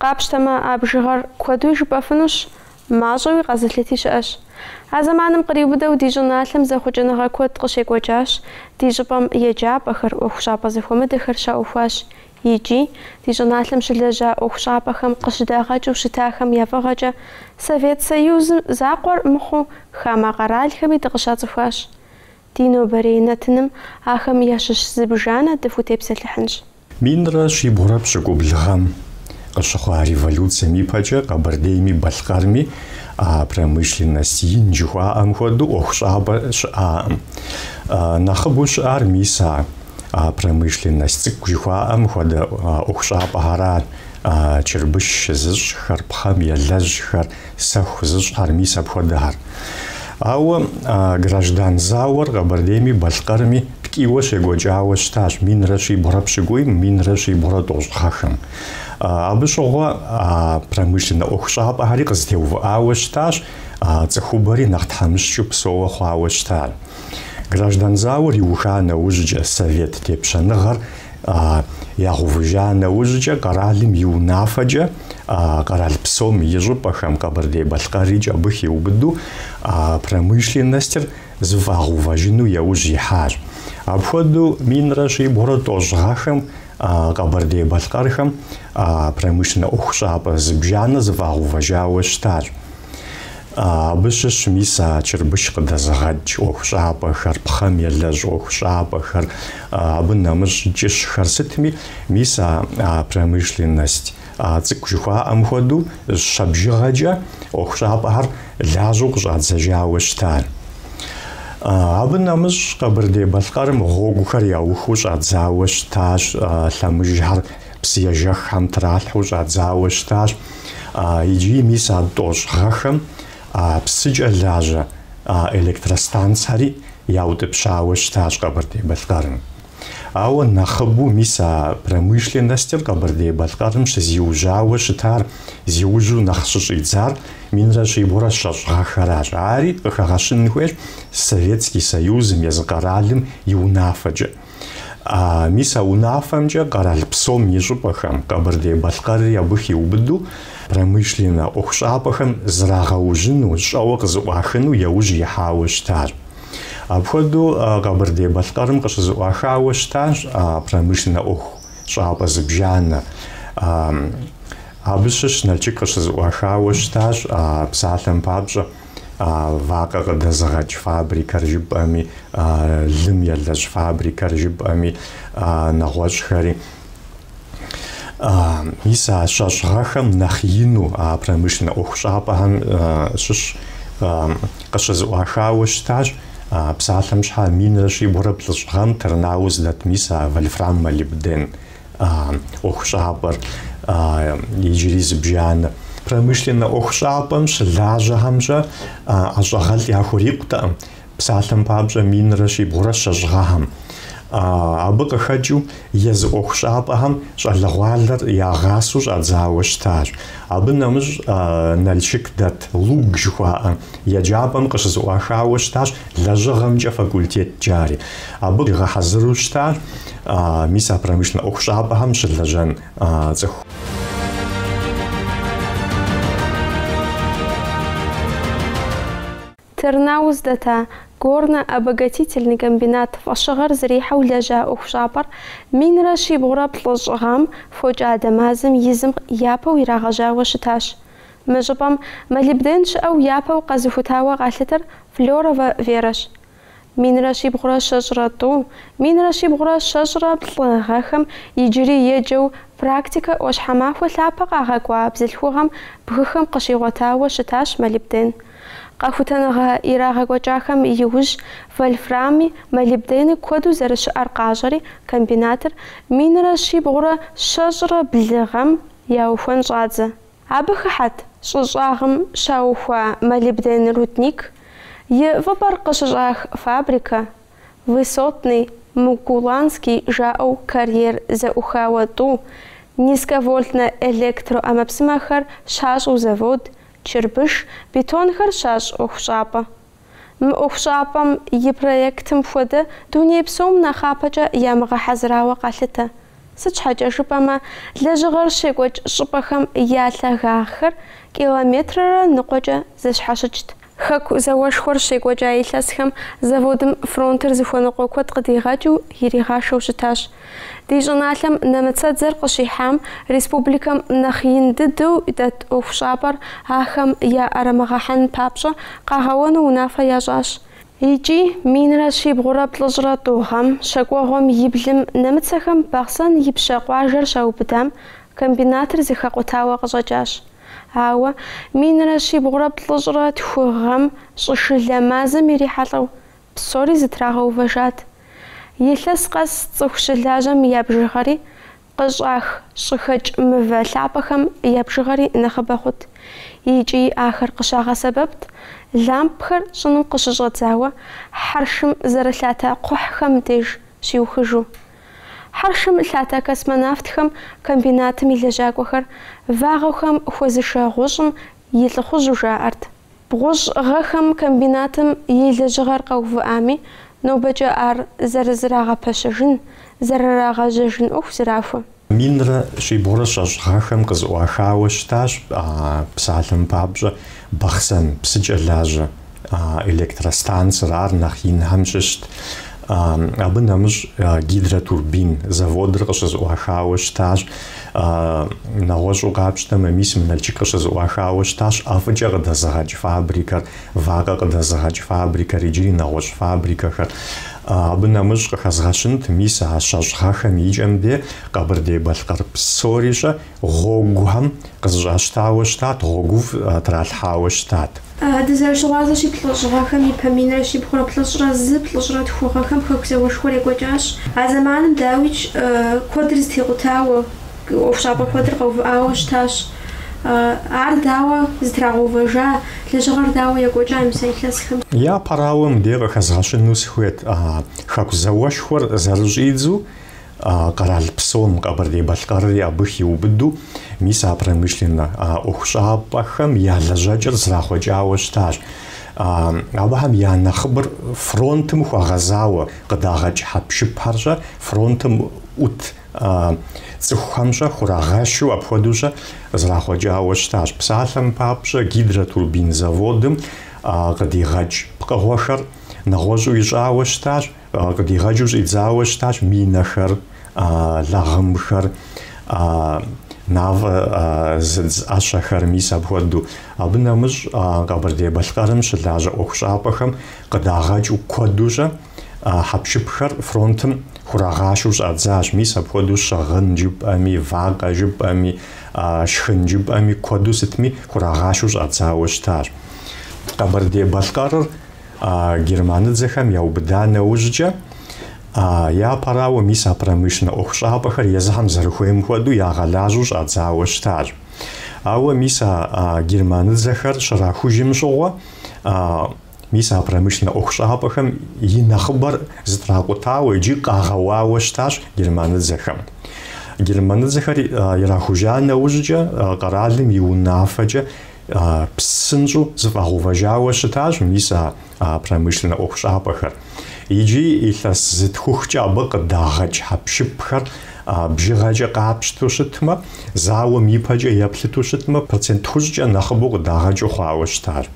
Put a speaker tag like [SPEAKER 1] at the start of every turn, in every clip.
[SPEAKER 1] Къапщтэмэ, а бжыгъэр куэдуи жыпӏэфынущ, мащӏэуи къэзылъыти щыӏэщ. А зэманым къриубыдэу ди щӏыналъэм зэхъуэкӏыныгъэ куэд къыщекӏуэкӏащ, ди щӏыпӏэм еджапӏэхэр, ӏуэхущӏапӏэ зэхуэмыдэхэр щаухуащ икӏи, ди щӏыналъэм щылэжьа ӏуэхущӏапӏэхэм къыщыдагъэкӏыу щытахэм я фӏыгъэкӏэ Совет Союзым закъуэр мыхъуу хамэ къэралхэми дыкъыщацӏыхуащ. Ди нобэрей нэтыным ахэм ящыщ зыбжанэ дыхутепсэлъыхьынщ.
[SPEAKER 2] Минрэ щибгъурэ пщыкӏубл гъэм къыщыхъуа революцием ипэкӏэ Къэбэрдейми Балъкъэрми а промышленность ин жыхуаӏэм хуэдэу ӏуэхущӏапӏэ щыӏакъым. Нэхъыбэу щыӏар мис а промышленность цӏыкӏу жыхуаӏэм хуэдэ ӏуэхущӏапӏэхэрат, чырбыш зыщӏхэр, пхъэм елэжьхэр, Сэху зыщӏхэр мис апхуэдэхэр. Ауэ а граждан зауэр Къэбэрдейми Балъкъэрми ткӏийуэ щекӏуэкӏауэ щытащ минрэ щибгъурэ пщыкӏуийм, минрэ щибгъурэ тӏощӏ гъэхэм. Абы щыгъуэ а промышленнэ ӏуэхущӏапӏэхэри къызэтеувыӏауэ щытащ, цӏыхубэри нэхъ тхьэмыщкӏыу псоуэ хъуауэ щытар. Граждан зауэр иуха нэужькӏэ совет тепщэныгъэр ягъэувыжа нэужькӏэ къэралым и унафэкӏэ къэрал псом и щӏыпӏэхэм Къэбэрдей-Балъкъэрикӏ абы хиубыдэу промышленностыр зэфӏагъэувэжыну яужь ихьащ. Апхуэдэу минрэ щибгъурэ тӏощӏ гъэхэм Къэбэрдей-Балъкъэрхэм промышленнэ ӏуэхущӏапӏэ зыбжанэ зэфӏагъэувэжауэ щытащ. Абы щыщ мис а чырбыш къыдэзыгъэкӏ ӏуэхущӏапӏэхэр, пхъэм елэжь ӏуэхущӏапӏэхэр, абы нэмыщӏ кӏыщхэр сытми, мис а промышленность цӏыкӏу жыхуаӏэм хуэдэу щэ бжыгъэкӏэ ӏуэхущӏапӏэхэр лажьэу къыщӏадзэжауэ щытар. Абы нэмыщӏ Къэбэрдей-Балъкъэрым гъуэгухэр яухуэу щӏадзауэ щытащ лъэмыжхэр псыежэххэм тралъхьэу щӏадзауэ щытащ. Икӏи мис а тӏощӏ гъэхэм псыкӏэ лажьэ электростанцхэри яутӏыпщауэ щытащ Къэбэрдей-Балъкъэрым. Ауэ нэхъыбэу мис а промышленностыр Къэбэрдей-Балъкъэрым щызиужьауэ щытар зиужьу нэхъ щыщӏидзар минрэ щибгъурэ щэщӏ гъэхэращ. Ари къыхэгъэщын хуейщ Советский Союзым, езы къэралым и унафэкӏэ. Мис а унафэмкӏэ къэрал псом и щӏыпӏэхэм, Къэбэрдей-Балъкъэрри абы хиубыдэу, промышленнэ ӏуэхущӏапӏэхэм зрагъэужьыну, щӏэуэ къызэӏуахыну яужь ихьауэ щытащ. Апхуэдэу Къэбэрдей-Балъкъэрым къыщызыӏуахауэ щытащ промышленнэ ӏуэхущӏапӏэ зыбжанэ. Абы щыщ Налшык къыщызэӏуахауэ щытащ псалъэм папщӏэ. вакъэ къыдэзыгъэкӏ фабрикэр жыпӏэми, лым елэжь фабрикэр жыпӏэми, нэгъуэщӏхэри. Мис а щэщӏ гъэхэм нэхъ ину а промышленнэ ӏуэхущӏапӏэхэм щыщ къыщызэӏуахауэ щытащ псалъэм щхьа минрэ щибгъурэ плӏыщӏ гъэм Тырнауз дэт мис а вольфрам-молибден ӏуэхущӏапӏэр иджыри зыбжанэ. Промышленнэ ӏуэхущӏапӏэм щылажьэхэмкӏэ ӏэщӏагъэлӏ яхурикъутэкъым, псалъэм папщӏэ минрэ щибгъурэ щэщӏ гъэхэм. Абы къыхэкӏыу езы ӏуэхущӏапӏэхэм щӏалэгъуалэр ягъасэу щӏадзауэ щытащ. Абы нэмыщӏ Налшык дэт ЛУГ жыхуаӏэ еджапӏэм къыщызэӏуахауэ щытащ лэжьыгъэмкӏэ факультет жари. Абы къигъэхьэзыру щытащ мис а промышленнэ ӏуэхущӏапӏэхэм щылэжьэн цӏыху.
[SPEAKER 1] Тырнауз дэта горно-обогатительный комбинат фӏэщыгъэр зэрихьэу лэжьа ӏуэхущӏапӏэр минрэ щибгъурэ плӏыщӏ гъэм фокӏадэ мазэм и зым япэу ирагъэжьауэ щытащ. Мы щӏыпӏэм молибден щыӏэу япэу къэзыхутауэ къалъытэр Флёровэ Верэщ. Минрэ щибгъурэ щэщӏрэ тӏу, минрэ щибгъурэ щэщӏрэ плӏы гъэхэм иджыри еджэу практикэ ӏуащхьэмахуэ лъапэ къагъэкӏуа бзылъхугъэм бгыхэм къыщигъуэтауэ щытащ молибден. Къэхутэныгъэ ирагъэкӏуэкӏахэм иужь вольфрами, молибдени куэду зэрыщыӏэр къащӏэри комбинатыр минрэ щибгъурэ щэщӏрэ блы гъэм яухуэн щӏадзэ. Абы хыхьэт щӏы щӏагъым щаухуа молибден рудник, и фӏыпӏэр къыщыщӏах фабрикэ, Высотный, Мукуланский жаӏэу карьер зэӏухауэ тӏу, низковольтнэ электроӏэмэпсымэхэр щащӏу завод, чырбыш, бетонхэр щащӏ ӏуэхущӏапӏэ. Мы ӏуэхущӏапӏэм и проектым хуэдэ дуней псом нэхъапэкӏэ ямыгъэхьэзырауэ къалъытэ. Сыт щхьэкӏэ жыпӏэмэ, лэжьыгъэр щекӏуэкӏ щӏыпӏэхэм я лъагагъхэр километррэ ныкъуэкӏэ зэщхьэщыкӏт. Хэку зауэшхуэр щекӏуэкӏа илъэсхэм заводым фронтыр зыхуэныкъуэ куэд къыдигъэкӏыу иригъашэу щытащ. Ди щӏыналъэм нэмыцэдзэр къыщихьам республикэм нэхъ ин дыдэу дэт ӏуэхущӏапӏэр ахэм яӏэрымыгъэхьэн папщӏэ къагъэуэну унафэ ящӏащ. Икӏи минрэ щибгъурэ плӏыщӏрэ тӏу гъэм щэкӏуэгъуэм и блым нэмыцэхэм Бахъсэн Ипщэ къуажэр щаубыдам комбинатыр зэхэкъутауэ къыщӏэкӏащ. Ауэ минрэ щибгъурэ плӏыщӏрэ тху гъэм щӏышылэ мазэм ирихьэлӏэу Псори зытрагъэувэжат. Илъэс къэс цӏыху щылажьэм я бжыгъэри, къыщӏах щӏыхэкӏ мывэ лъапӏэхэм я бжыгъэри нэхъыбэ хъут. Икӏи ахэр къыщагъэсэбэпт лампхэр щӏыным къыщыщӏэдзауэ хьэршым зэрылъатэ кхъухьхэм деж щиухыжу. Хьэршым лъатэ космонавтхэм комбинатым и лэжьакӏуэхэр вагъуэхэм хуэзышэ гъущӏым и лӏыхъужьу жаӏэрт. Бгъущӏ гъэхэм комбинатым и лэжьыгъэр къэувыӏами, нобэкӏэ ар зэрызрагъэпэщэжын, зэрырагъэжьэжын ӏуэху зрахуэ. Минрэ
[SPEAKER 2] щибгъурэ щэщӏ гъэхэм къызэӏуахауэ щытащ псалъэм папщӏэ Бахъсэн псыкӏэ лажьэ электростанцэр, ар нэхъ инхэм щыщт Абы нэмыщӏ гидротурбин заводыр къыщызэӏуахауэ щытащ. Нэгъуэщӏу къапщтэмэ, мис мы Налчык къыщызэӏуахауэ щытащ ӏэфӏыкӏэ къыдэзыгъэкӏ фабрикэр, вакъэ къыдэзыгъэкӏ фабрикэр иджыри нэгъуэщӏ фабрикэхэр. Абы нэмыщӏ къыхэзгъэщынт мис а щэщӏ гъэхэм и кӏэм де Къэбэрдей-Балъкъэр псори щӏэ Гъуэгухэм къызыщӏащтауэ щытат, гъуэгуфӏ тралъхьауэ щытат.
[SPEAKER 1] Дызэрыщыгъуазэщи, плӏыщӏ гъэхэм и пэ минрэ щибгъурэ плӏыщӏрэ зы плӏыщӏрэ тху гъэхэм Хэку зауэшхуэр екӏуэкӏащ. А зэманым дауикӏ, куэдыр зытекъутауэ, ӏуэхущӏапӏэ куэдыр къэувыӏауэ щытащ. Ар дауэ зытрагъэувэжа, лэжьыгъэр дауэ екӏуэкӏа мис а илъэсхэм? Япэрауэ, мыбдеж
[SPEAKER 2] къыхэзгъэщыну сыхуейт, Хэку зауэшхуэр зэрыщӏидзу къэрал псом Къэбэрдей-Балъкъэрри абы хиубыду, мис а промышленнэ ӏуэхущӏапӏэхэм я лэжьэкӏэр зрахъуэкӏауэ щытащ. Абыхэм я нэхъыбэр фронтым хуэгъэзауэ къыдагъэкӏ хьэпшыпхэрщӏэ, фронтым ӏут цӏыхухэмщӏэ хурагъашэу апхуэдэущӏэ зрахъуэкӏауэ щытащ. Псалъэм папщӏэ, гидротурбин заводым къыдигъэкӏ пкъыгъуэхэр нэгъуэщӏу ищӏауэ щытащ. Къыдигъэкӏыу щӏидзауэ щытащ минэхэр, лагъымхэр, мафӏэ зыдз ӏэщэхэр, мис апхуэдэу. Абы нэмыщӏ Къэбэрдей-Балъкъэрым щылажьэ ӏуэхущӏапӏэхэм къыдагъэкӏыу куэдущӏэ хьэпшыпхэр фронтым хурагъашэу щӏадзащ, мис апхуэдэу щыгъын жыпӏэми, вакъэ жыпӏэми, шхын жыпӏэми куэду сытми хурагъашэу щӏадзауэ щытащ. Къэбэрдей-Балъкъэрыр Германыдзэхэм яубыда нэужькӏэ, япэрауэ, мис а промышленнэ ӏуэхущӏапӏэхэр езыхэм зэрыхуейм хуэдэу ягъэлажьэу щӏадзауэ щытащ. Ауэ мис а германыдзэхэр щрахужым щыгъуэ, мис а промышленнэ ӏуэхущӏапӏэхэм и нэхъыбэр зытракъутауэ икӏи къагъэуауэ щытащ германыдзэхэм. Германыдзэхэр ирахужа нэужькӏэ, къэралым и унафэкӏэ псынщӏэу зыфӏэгъэувэжауэ щытащ мис а промышленнэ ӏуэхущӏапӏэхэр. Иджы илъэс зытхухкӏэ абы къыдагъэкӏ хьэпшыпхэр бжыгъэкӏэ къапщтэу щытмэ, зауэм ипэкӏэ еплъыту щытмэ, процент тхущӏкӏэ нэхъыбэу къыдагъэкӏыу хъуауэ
[SPEAKER 1] щытащ.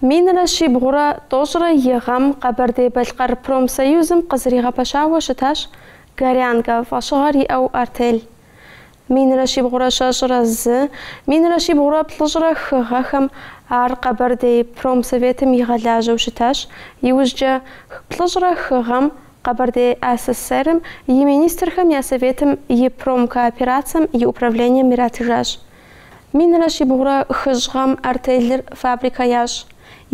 [SPEAKER 1] Минрэ щибгъурэ тӏощӏрэ и гъэм Къэбэрдей-Балъкъэр промсоюзым къызэригъэпэщауэ щытащ Горянка фӏэщыгъэр иӏэу артель. Минрэ щибгъурэ щэщӏрэ зы, минрэ щибгъурэ плӏыщӏрэ хы гъэхэм ар Къэбэрдей промсоветым игъэлажьэу щытащ, иужькӏэ плӏыщӏрэ хы гъэм Къэбэрдей АССР-м и министрхэм я Советым и промкооперацэм и управлением иратыжащ. Минрэ щибгъурэ хыщӏ гъэм артелыр фабрикэ ящӏ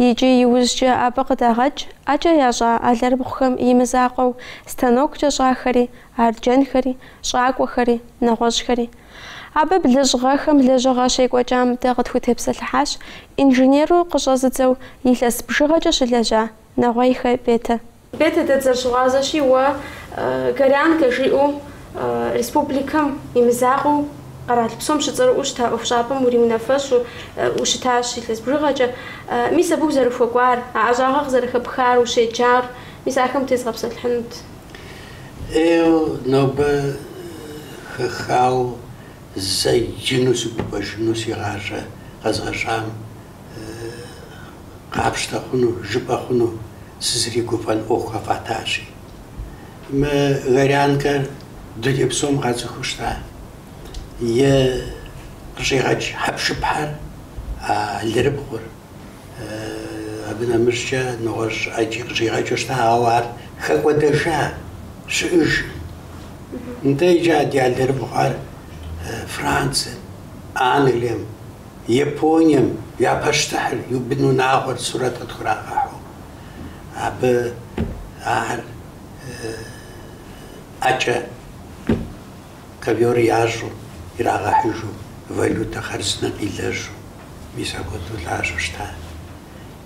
[SPEAKER 1] икӏи иужькӏэ абы къыдагъэкӏ ӏэкӏэ ящӏа алэрыбгъухэм и мызакъуэу станоккӏэ щӏахэри, арджэнхэри, щӏакӏуэхэри, нэгъуэщӏхэри. Абы блыщӏ гъэхэм лэжьыгъэ щекӏуэкӏам дэ къытхутепсэлъыхьащ инженеру къыщӏэзыдзэу илъэс бжыгъэкӏэ щылэжьа Нэгъуейхэ Бетэ. Бетэ дэ дызэрыщыгъуазэщи уэ Горянкэ жиӏэу республикэм и мызакъуэу къэрал псом щыцӏэрыӏуэу щыта ӏуэхущӏапӏэм уриунафэщӏу ущытащ илъэс бжыгъэкӏэ. Мис абы узэрыхуэкӏуар, а ӏэщӏагъэр къызэрыхэпхар, ущеджар, мис ахэм тезгъэпсэлъыхьынут. Ей
[SPEAKER 3] нобэ хэхауэ зэджэну сыгуфӏэжыну си гъащӏэ къэзгъэщӏам. къапщтэ хъуну, жыпӏэ хъуну сызригуфӏэн ӏуэху къэфӏатащи. Мы Горянкэр дуней псом къацӏыхуу щыта. Е къыщӏигъэкӏ хьэпшыпхэр, а алырыбгъур. Абы нэмыщӏкӏэ нэгъуэщӏ ӏэджи къыщӏигъэкӏыу щыта, ауэ ар хэкӏуэдэжа щыӏэжым. Нтӏэ иджы а ди алырыбгъухэр Францэм, Англием. Японием я пащтыхьыр и бынунагъуэр сурэт къытхурагъэхьу, абы ахэр ӏэкӏэ ковёр ящӏу ирагъэхьыжу, валютэ хъарзынэ къилэжьу, мис апхуэдэу лажьэу щыта.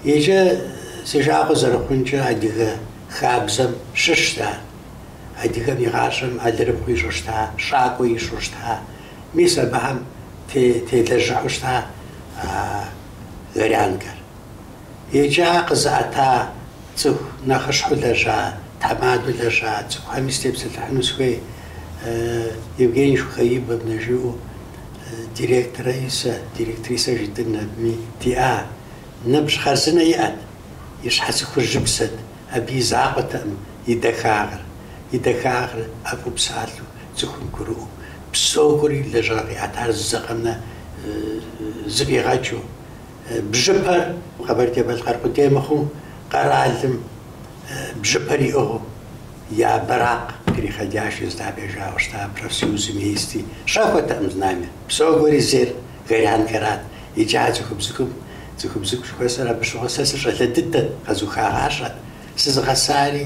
[SPEAKER 3] Иджы, си жагъуэ зэрыхъункӏэ, адыгэ хабзэм щыщта. Адыгэм и гъащӏэм алырыбгъу ищӏу щыта, щӏакӏуэ ищӏу щыта, Мис абыхэм телэжьыхьу щыта Горянкэр. Иджы ар къызыӏэта цӏыху нэхъыщхьэу лэжьа, тхьэмадэу лэжьа цӏыхухэми степсэлъыхьыну сыхуей, Евгения Шухаибовнэ жиӏэу директорэ исэ, директрисэ жытӏэн абыми диӏа. Ныбжь хъарзынэ иӏэт, и щхьэц хужьыбзэт, абы и закъуэтэкъым и дахагъыр. И дахагъыр ӏэфӏу псалъэу, Цӏыхум гурыӏуэу, псогуэри лэжьыгъэ къиӏэтар зэкъэмнэ зыфӏигъэкӏыу, бжьыпэр Къэбэрдей-Балъкъэр къудей мыхъуу, къэралым бжьыпэр иӏыгъыу и бэракъ кърихьэкӏащ Езыдапӏэ жаӏэу щыта профсоюзым и исти. Щӏэхуэтэкъым знамя. Псогуэри зейр Горянкэрат. Иджы а цӏыхубзыгум цӏыхубзыгу жыхуэсӏэр абы щыгъуэ сэ сыщӏалэ дыдэт, къэзухагъащӏэт. Сызыгъэсари.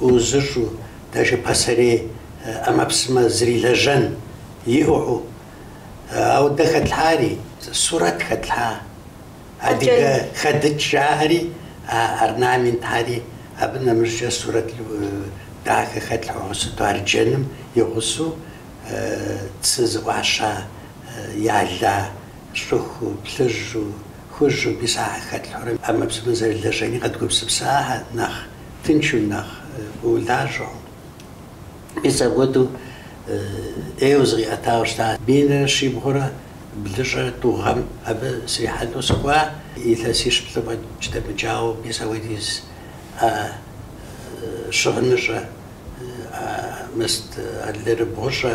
[SPEAKER 3] ӏуузыщӏу, даже пасэрей ӏэмэпсымэ зрилэжьэн иӏыгъыу. Ауэ дэ хэтлъхьари, сурэт хэтлъхьа, адыгэ хэдыкӏ жаӏэри, а орнаментхьэри, абы нэмыщӏкӏэ сурэт дахэ хэтлъхьэу сыту арджэным и гъусэу цы зэӏуаща, яла. щӏыхуу, плъыжьу, хужьу мис ахэр хэтлъхьурэ ӏэмэпсымэ зэрылэжьэни къэдгупсысахэр нэхъ тыншу, нэхъ улажьэу. Мис апхуэдэу ӏейуэ зыкъиӏэтауэ щыта минрэ щибгъурэ блыщӏэ тӏу гъэм абы срихьэлӏэу сыкӏуа илъэсищ плӏы фӏэкӏ дэмыкӏауэ мис апхуэдиз ӏэ щыгъыныщӏэ, ӏэ мэст алэрыбгъущӏэ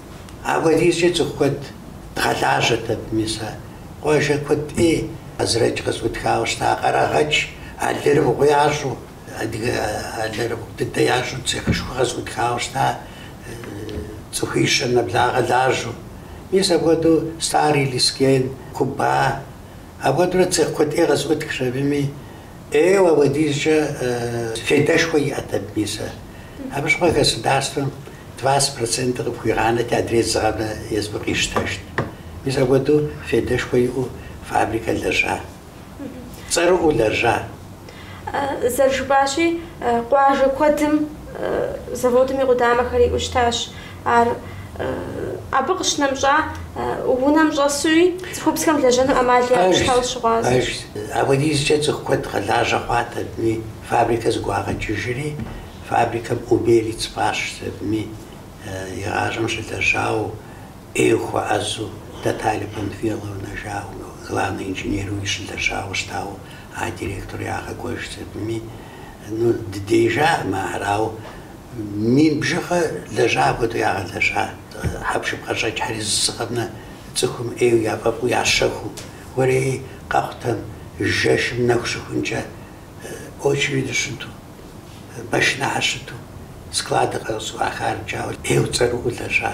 [SPEAKER 3] Апхуэдизкӏэ цӏыху куэд дгъэлажьэт абы, мис а къуажэ куэд ӏей Уэзрэдж къызэӏутхауэ щыта Къэрэгъэч алэрыбгъу ящӏу, адыгэ алэрыбгъу дыдэ ящӏу, цехышхуэ къызэӏутхауэ щыта цӏыхуищэ нэблагъэ лажьэу. Мис апхуэдэу Старый Лескен, Куба, апхуэдэурэ цех куэд ӏей къызэӏутхащ абыми, ӏейуэ, апхуэдизкӏэ фейдэшхуэ иӏэт абы, мис ар. Абы щыгъуэ государствэм двадцать процентыр къыпхуигъанэрти, адрей зыгъэбэ езым къищтэжт. Мис апхуэдэу фейдэшхуэ иӏэу фабрикэ лэжьа, цӏэрыӏуэу лэжьа. Зэрыжыпӏащи,
[SPEAKER 1] къуажэ куэдым заводым и къудамэхэр иӏэу щытащ. Ар абы къыщынэмыщӏа унэм щӏэсуи, цӏыхубзхэм лэжьэну ӏэмал яӏэу щытауэ
[SPEAKER 3] щыгъуазэ. Арщ. Апхуэдизкӏэ цӏыху куэд къэлажьэ хъуат абыми, фабрикэ зэгуагъэкӏыжри, фабрикэм Убер и цӏыфащ абыми, игъащӏэм щылэжьауэ, ӏейуэ хуэӏэзу, Наталья Панфиловна жаӏэу, главный инженерыуи щылэжьауэ щытауэ, а директору ягъэкӏуэжт абыми, Ну, дыдеижар мы арау, мин бжыгъэ лэжьа апхуэдэу ягъэлэжьа, хьэпшып къыщӏэкӏхьэри зы цӏыкӏу къэмынэу цӏыхум ӏейу яфӏэфӏу ящэхуу, уэрей къэхъутэм жэщым нэху щыхункӏэ очереди щыту, машинэхьэр щыту, складыр къэзыщӏыӏуа хар джауэ ӏейу цӏэрыӏуэу лэжьа.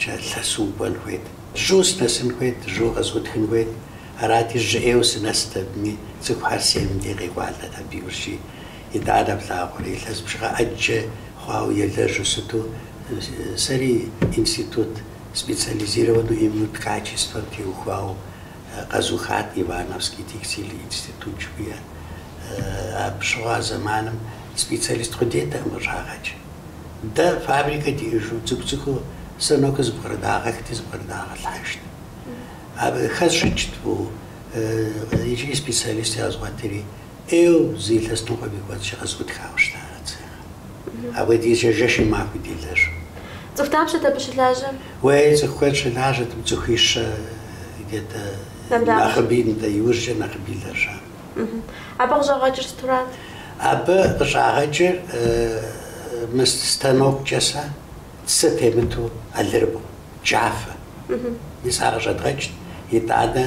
[SPEAKER 3] Кӏэ лъэсу укӏуэн хуейт. Жьу сынэсын хуейт, жьу къызэӏутхын хуейт. Арати, жьы ӏейуэ сынэст абыми, цӏыхухэр семым дей къекӏуалӏэт абы иужьи. Итӏанэ плъагъури, илъэс бжыгъэ ӏэджэ хъуауэ елэжьу щыту, сэри институт специализированнэ именно ткачествэм теухуауэ къэзухат, Ивановский текстиль институт жыхуиӏэр. Абы щыгъуэ а зэманым специалист къудейтэкъым къыщӏагъэкӏ. Дэ фабрикэ диӏэжу цӏыкӏу-цӏыкӏуу станокыр зэпкърыдагъэхти, зэпкърыдагъэлъхьэжт. Абы хэзыщӏыкӏ тӏу иджыри специалист къэзгъуэтри, ӏейуэ зы илъэс ныкъуэм и кӏуэцӏкӏэ къызэӏутхауэ щыта а цехьэр. Апхуэдизкӏэ жэщи махуи делэжу. Цӏыху
[SPEAKER 1] дапщэт абы щылажьэр? Уей, цӏыху куэд
[SPEAKER 3] щылажьэрт, цӏыхуищэ где-то нэхъыби, нтӏэ, иужькӏэ нэхъыби лэжьа.
[SPEAKER 1] Абы къыщӏагъэкӏыр сыту рат?
[SPEAKER 3] Абы къыщӏагъэкӏыр мы станоккӏэ сэ цы темыту алырыбгъу, джафэ. Мис ар къыщӏэдгъэкӏт, итӏанэ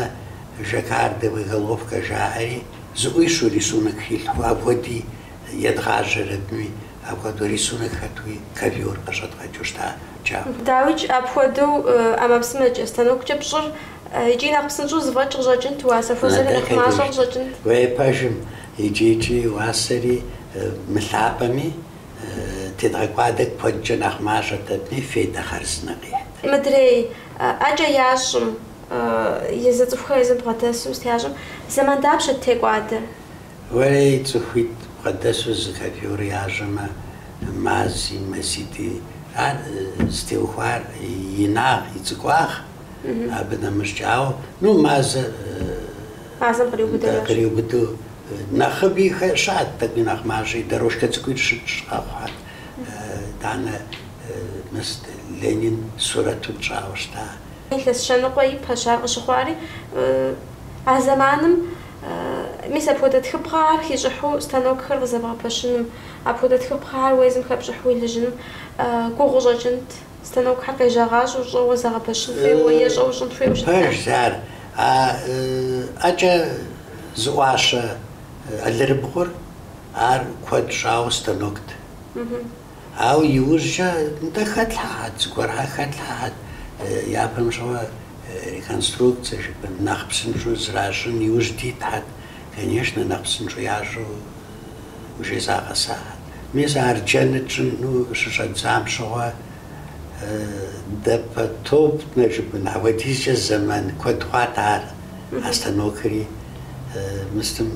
[SPEAKER 3] жаккардовэ головкэ жаӏэри, зэӏуищэу рисунок хилъху апхуэди едгъажьэрэтми, апхуэдэу рисунок хэтуи ковёр къыщӏэдгъэкӏыу щыта джафэ. Дауикӏ, апхуэдэу
[SPEAKER 1] ӏэмэпсымэкӏэ, станоккӏэ пщӏыр. Икӏи нэхъ псынщӏэу зэфӏэкӏ къыщӏэкӏынт уасэ хуэзэри нэхъ мащӏэ
[SPEAKER 3] къыщӏэкӏынт. Уей пэжым икӏи-икӏи уасэри мылъапӏэми тедгъэкӏуадэ куэдкӏэ нэхъ мащӏэтэми фейдэ хъарзынэ къихьт. Мыдрей
[SPEAKER 1] ӏэкӏэ ящӏым, езы цӏыхухэр езым бгъэдэсу зытящӏым, зэман дапщэт текӏуадэр?
[SPEAKER 3] Уэри цӏыхуитӏ бгъэдэсу зы ковёр ящӏэмэ, мази, мазитӏи, ар зытеухуар и инагъ, и цӏыкӏуагъ. Абы нэмыщӏкӏауэ, ну, мазэ, Мазэм къриубыдэу да, ящӏ. къриубыдэу нэхъыби хэ- щыӏэт, тӏэкӏуи нэхъ мащӏи, дорожкэ цӏыкӏуи щытщӏ къэхъуат. Итӏанэ мыст Ленин сурэту тщӏауэ щыта. Илъэс щэ
[SPEAKER 1] ныкъуэ ипэщ ар къыщыхъуари. А зэманым, мис апхуэдэ тхыпхъэхэр хищӏыхьу станокхэр къызэбгъэпэщыным, апхуэдэ тхыпхъэхэр уэ езым хэпщӏыхьу уелэжьыным гугъуу къыщӏэкӏынт. Станокхьэр къежьагъащӏэу щӏэуэ
[SPEAKER 3] зэгъэпэщын хуейуэ е щӏэуэ щӏын хуейуэ щытар? Пэжщ ар. А ӏэкӏэ зэӏуащэ алырыбгъур ар куэд щӏауэ станокт. Ауэ иужькӏэ нтӏэ хэтлъхьэхьэт, зыгуэрхьэр хэтлъхьэхьэт, япэм щӏауэ реконструкцэ жыпӏэм, нэхъ псынщӏэу зэращӏын иужь дитхьэт. Конечно, нэхъ псынщӏэу ящӏу уже загъэсахэт. Мис арджэн тщӏыну щыщӏэдзам щыгъуэ допотопнэ жыпӏын апхуэдизкӏэ зэман куэд хъуат ар, а станокри мыстым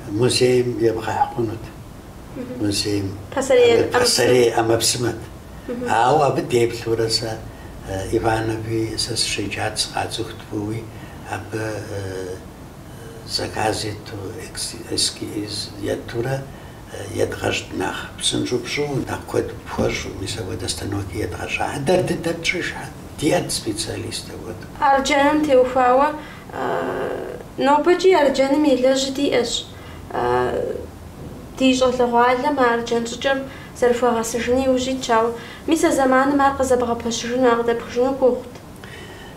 [SPEAKER 3] музейм ебгъэхь хъунут, музейм пасэрей ӏэмэпсымэт. Ауэ абы деплъурэ сэ Иванови сэ сыщеджат, сыкъацӏыхут фӏыуи, абы Заказ ету эскиз етурэ едгъэщӏт нэхъ псынщӏэу пщӏыуэ, нэхъ куэд пхуэщӏу, мис апхуэдэ станокыр едгъэщӏа дэр дыдэ тщӏишхьэт, диӏэт специалист апхуэдэу. Арджэным теухуауэ,
[SPEAKER 1] нобэкӏи арджэным елэжь диӏэщ. Ди щӏалэгъуалэм а арджэн щӏыкӏэр зэрыхуагъэсэжыну иужь итщ, ауэ мис а зэманым ар къызэбгъэпэщыжыну, а къыдэпхыжыну гугъут.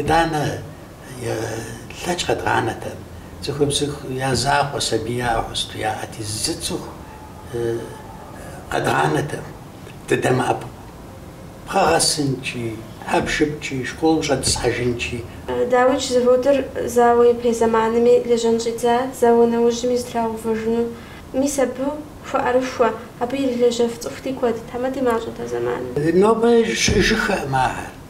[SPEAKER 3] Итӏанэ тлъэкӏ къэдгъанэтэкъым, цӏыхубзхэу я закъуэ сабияуэ хъусту яӏэти, зы цӏыху къэдгъанэтэкъым, дыдэмыӏэпыкъуу пхъэгъэсынкӏи, хьэпшыпкӏи, школым щӏэдысхьэжынкӏи.
[SPEAKER 1] Даудж заводыр зауэ ипэ зэманми лэжьэн щӏидза, зауэ нэужьми зэтрагъэувэжыну. Мис абы хуэӏэрыхуэ, абы ирилэжьэф цӏыхути куэд, тхьэмэди мащӏэт а зэманым. Нобэ
[SPEAKER 3] щыӏэжыххэкъым ахэр.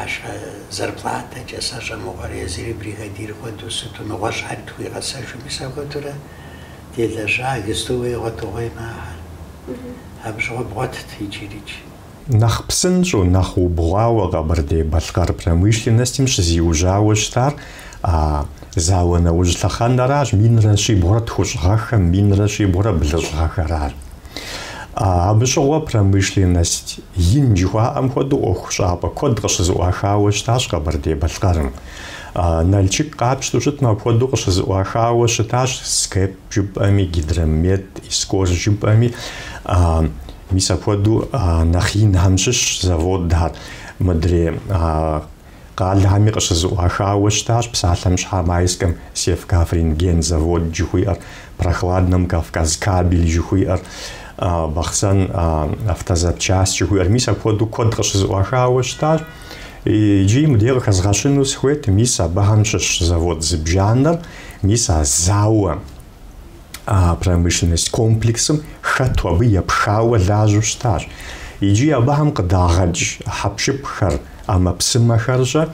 [SPEAKER 3] Арщхьэ зарплатэкӏэ сэ щӏэмыгъуэр езыри бригадир хуэдэу сыту нэгъуэщӏхэри тхуигъэсэжми сэ хуэдэурэ делэжьа Гестовые гъуэтыгъуей махэр. Абы щыгъуэ бгъуэтт иджырикӏ.
[SPEAKER 2] Нэхъ псынщӏэу, нэхъ убгъуауэ Къэбэрдей-Балъкъэр промышленностым щызиужьауэ щытар Зауэ нэужь лъэхъэнэращ минрэ щибгъурэ тхущӏ гъэхэм, минрэ щибгъурэ блыщӏ гъэхэращ. Абы щыгъуэ промышленность ин жыхуаӏэм хуэдэу ӏуэху щӏапӏэ куэд къыщызыӏуахауэ щытащ Къэбэрдей-Балъкъэрым. Налчык къапщтэу щытмэ, апхуэдэу къыщызыӏуахауэ щытащ СКЭП жыпӏэми, Гидромет, Искор жыпӏэми. Мис апхуэдэу нэхъ инхэм щыщ заводхэр мыдрей Къалэхэми къыщызыӏуахауэ щытащ псалъэм щхьа Майскэм Севкаврентген завод жыхуиӏэр, Прохладном Кавказкабель жыхуиӏэр, Бахъсэн Автозапчасть жыхуиӏэр. Мис апхуэдэу куэд къыщызыӏуахауэ щытащ. Иджы мыдей къыхэзгъэщыну сыхуейт, мис абыхэм щыщ завод зыбжанэр, мис а зауэм. промышленность комплексым хэту абы епхауэ лажьэу щытащ. Иджы абыхэм къыдагъэкӏ хьэпшыпхэр, ӏэмэпсымэхэрщӏэ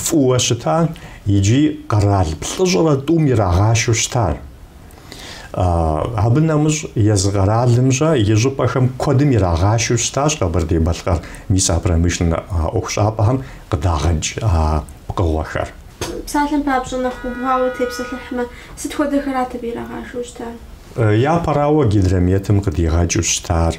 [SPEAKER 2] фӏыуэ щытащ, иджы къэрал плӏыщӏрэ тӏум ирагъашэу щытащ. Абы нэмыщӏ езы къэралымщӏэ и щӏыпӏэхэм куэдым ирагъашэу щытащ Къэбэрдей-Балъкъэр мис а промышленнэ ӏуэхущӏапӏэхэм къыдагъэкӏ пкъыгъуэхэр.
[SPEAKER 1] Псалъэм папщӏэ, нэхъ
[SPEAKER 2] убгъуауэ тепсэлъыхьмэ, сыт хуэдэхэрат абы ирагъашэу щытар? Япэрауэ, Гидрометым къыдигъэкӏыу щытар,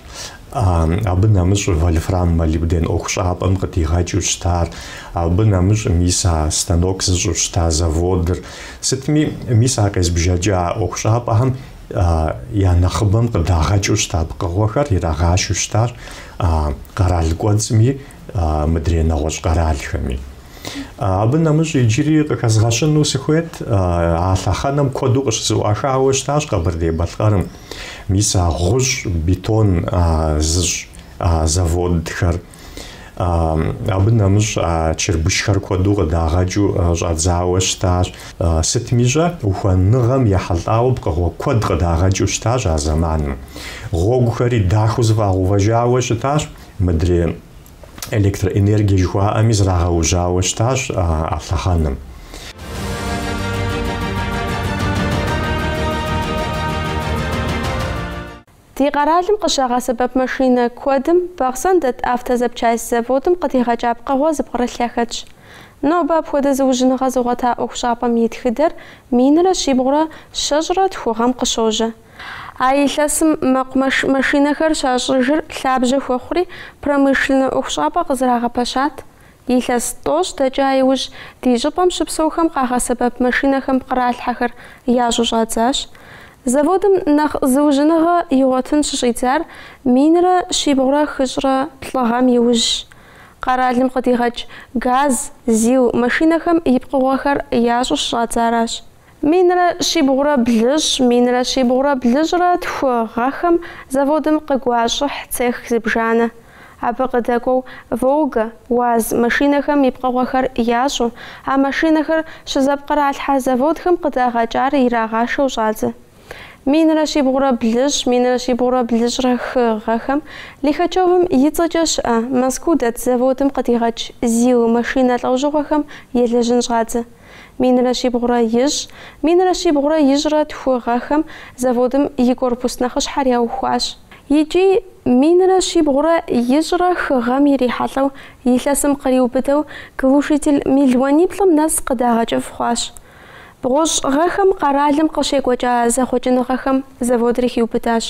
[SPEAKER 2] абы нэмыщӏ вольфрам-молибден ӏуэхущӏапӏэм къыдигъэкӏыу щытар, абы нэмыщӏ мис а станок зыщӏу щыта заводыр. Сытми, мис а къезбжэкӏа ӏуэхущӏапӏэхэм я нэхъыбэм къыдагъэкӏыу щыта пкъыгъуэхэр ирагъашэу щытар къэрал кӏуэцӏми мыдрей нэгъуэщӏ къэралхэми. Абы нэмыщӏ иджыри къыхэзгъэщыну сыхуейт, а лъэхъэнэм куэду къыщызэӏуахауэ щытащ Къэбэрдей-Балъкъэрым. Мис а гъущӏ бетон зыщӏ заводхэр, абы нэмыщӏ а чырбышхэр куэду къыдагъэкӏыу щӏадзауэ щытащ. Сытми щӏэ, ухуэныгъэм ехьэлӏауэ пкъыгъуэ куэд къыдагъэкӏыу щытащ а зэманым. Гъуэгухэри дахэу зэфӏагъэувэжауэ щытащ мыдрей электроэнергие жыхуаӏэми зрагъэужьауэ щытащ а
[SPEAKER 1] лъэхъэнэм. Ди къэралым къыщагъэсэбэп машинэ куэдым Бахъсэн дэт автозапчасть заводым къыдигъэкӏа пкъыгъуэ зыпкърылъхэщ. Нобэ апхуэдэ зыужьыныгъэ зыгъуэта ӏуэхущӏапӏэм и тхыдэр минрэ щибгъурэ щэщӏрэ тху гъэм къыщожьэ. А илъэсым мэкъу машинэхэр щащӏыжыр лъабжьэ хуэхъури, промышленнэ ӏуэхущӏапӏэ къызэрагъэпэщат. Илъэс тӏощӏ дэкӏа иужь, ди щӏыпӏэм щыпсэухэм къагъэсэбэп машинэхэм пкъралъхьэхэр ящӏу щӏадзащ. Заводым нэхъ зыужьыныгъэ игъуэтын щыщӏидзар минрэ щибгъурэ хыщӏрэ плӏы гъэм иужьщ. Къэралым къыдигъэкӏ ГАЗ, ЗИЛ машинэхэм и пкъыгъуэхэр ящӏу щыщӏадзаращ. Минрэ щибгъурэ блыщӏ, минрэ щибгъурэ блыщӏрэ тху гъэхэм заводым къыгуащӏыхь цех зыбжанэ. Абы къыдэкӏуэу Волга, УАЗ машинэхэм и пкъыгъуэхэр ящӏу, а машинэхэр щызэпкъралъхьэ заводхэм къыдагъэкӏар ирагъашэу щӏадзэ. Минрэ щибгъурэ блыщӏ, минрэ щибгъурэ блыщӏрэ хы гъэхэм Лихачевым и цӏэкӏэ щыӏэ Москва дэт заводым къыдигъэкӏ ЗИЛ машинэ лӏэужьыгъуэхэм елэжьын щӏадзэ. Минрэ щибгъурэ ищӏ, минрэ щибгъурэ ищӏрэ тху гъэхэм заводым и корпус нэхъыщхьэр яухуащ. Икӏи минрэ щибгъурэ ищӏрэ хы гъэм ирихьэлӏэу илъэсым къриубыдэу глушитель мелуаниплӏым нэс къыдагъэкӏыф хъуащ. Бгъущӏ гъэхэм къэралым къыщекӏуэкӏа зэхъуэкӏыныгъэхэм заводыр хиубыдащ.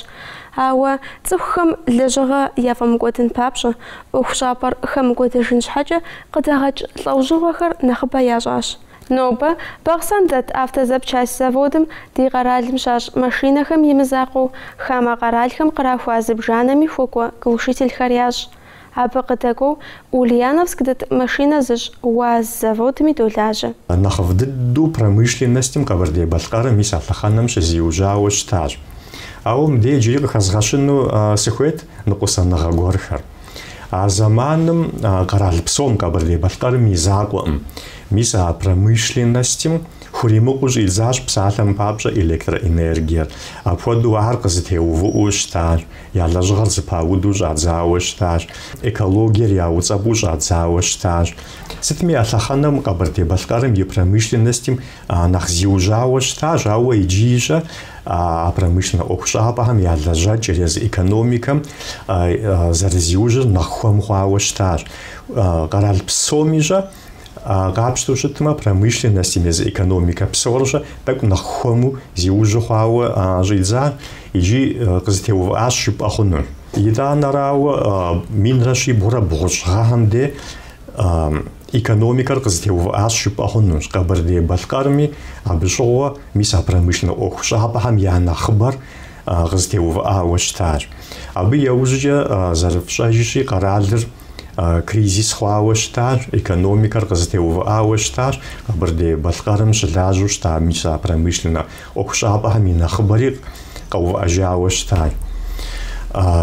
[SPEAKER 1] Ауэ цӏыхухэм лэжьыгъэ яфӏэмыкӏуэдын папщӏэ, ӏуэхущӏапӏэр хэмыкӏуэдэжын щхьэкӏэ къыдагъэкӏ лӏэужьыгъуэхэр нэхъыбэ ящӏащ. Нобэ Бахъсэн дэт автозапчасть заводым ди къэралым щащӏ машинэхэм имызакъуэу хамэ къэралхэм кърахуа зыбжанэми хуэкӏуэ глушительхэр ящӏ. Абы къыдэкӏуэу Ульяновск дэт машинэ зыщӏ УАЗ заводми долажьэ. Нэхъыфӏ
[SPEAKER 2] дыдэу промышленностым Къэбэрдей-Балъкъэрым мис а лъэхъэнэм щызиужьауэ щытащ. Ауэ мыбдеж иджыри къыхэзгъэщыну сыхуейт ныкъусаныгъэ гуэрхэр. А зэманым къэрал псом, Къэбэрдей-Балъкъэрым и закъуэкъым, мис а промышленностым хуримыкъуу щӏидзащ псалъэм папщӏэ электроэнергиер, апхуэдэу ар къызытеувыӏэу щытащ. Я лэжьыгъэр зыпауду щӏадзауэ щытащ, экологиер яуцӏэпӏу щӏадзауэ щытащ. Сытми а лъэхъэнэм Къэбэрдей-Балъкъэрым и промышленностым нэхъ зиужьауэ щытащ, ауэ иджы ищӏэ а промышленнэ ӏуэхущӏапӏэхэм я лэжьэкӏэр езы экономикэм зэрызиужьыр нэхъ хуэм хъуауэ щытащ. Къэрал псом ищӏэ Къапщтэу щытмэ, промышленностым езы экономикэ псорыщӏэ тӏэкӏу нэхъ хуэму зиужьу хъуауэ щӏидза икӏи къызытеувыӏащ жыпӏэ хъуну. Итӏанэрауэ, минрэ щибгъурэ бгъущӏ гъэхэм дей экономикэр къызытеувыӏащ жыпӏэ хъунущ Къэбэрдей-Балъкъэрми, абы щыгъуэ мис а промышленнэ ӏуэхущӏапӏэхэм я нэхъыбэр къызытеувыӏауэ щытащ. Абы яужькӏэ зэрыфщӏэжщи, къэралыр Кризис хъуауэ щытащ, экономикэр къызытеувыӏауэ щытащ Къэбэрдей-Балъкъэрым щылажьэу щыта мис а промышленнэ ӏуэхущӏапӏэхэм и нэхъыбэри къэувыӏэжауэ щытащ.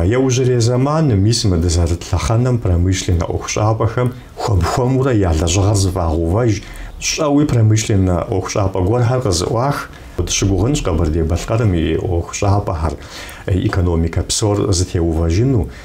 [SPEAKER 2] Яужьрей зэманым, мис мы дызэрыт лъэхъэнэм промышленнэ ӏуэхущӏапӏэхэм хуэм-хуэмурэ я лэжьыгъэр зыфӏагъэувэж, щӏэуи промышленнэ ӏуэхущӏапӏэ гуэрхэр къызыӏуах, дыщыгугъынщ Къэбэрдей-Балъкъэрым и ӏуэхущӏапӏэхэр, экономикэ псор зытеувэжыну,